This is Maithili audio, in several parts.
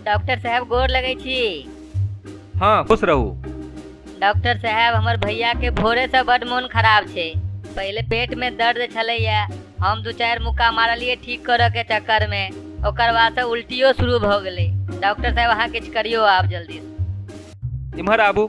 डॉक्टर साहब गोर लगै छी हाँ खुश रहू डॉक्टर साहब हमर भैया के भोरे से बड मोन खराब छै पहले पेट में दर्द छलैया हम दू चार मुक्का मारलिए ठीक करऽ के चक्कर में ओकर बाद से उल्टियो शुरू भऽ गेलै डॉक्टर साहब अहाँ किछु करियो आब जल्दी से। इम्हर आबू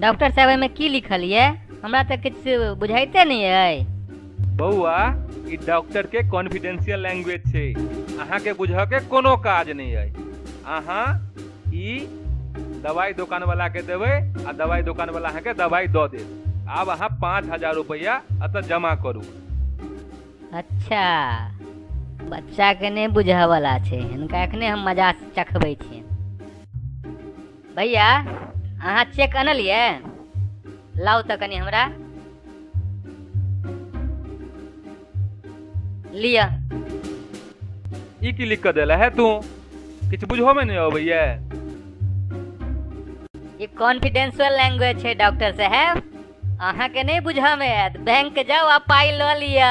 डॉक्टर साहब एहिमे की लिखल ये हमरा तऽ किछु बुझाइते नहि अइ बौआ ई डॉक्टर के कॉन्फिडेंशियल लैंग्वेज छै अहाँ के बुझऽ के कोनो काज नहीं है अहाँ ई दवाई दुकान वाला के देबै आ दवाई दुकान वाला अहाँ के दवाई दऽ देत आब अहाँ पाँच हजार रुपैया अतऽ जमा करू अच्छा बच्चा के नहि बुझऽ वाला छै हिनका एखने हम मजा चखबै छियनि भैया अहाँ चेक अनलियै लाउ तऽ कनि हमरा लिअ ई की लिख कऽ देला है तू किछु बुझहोमे नहि अबैया ई कॉन्फिडेंशियल लैंग्वेज छै डॉक्टर साहब अहाँके नहि बुझऽमे आयत बैंक जाउ आ पाइ लऽ लिअ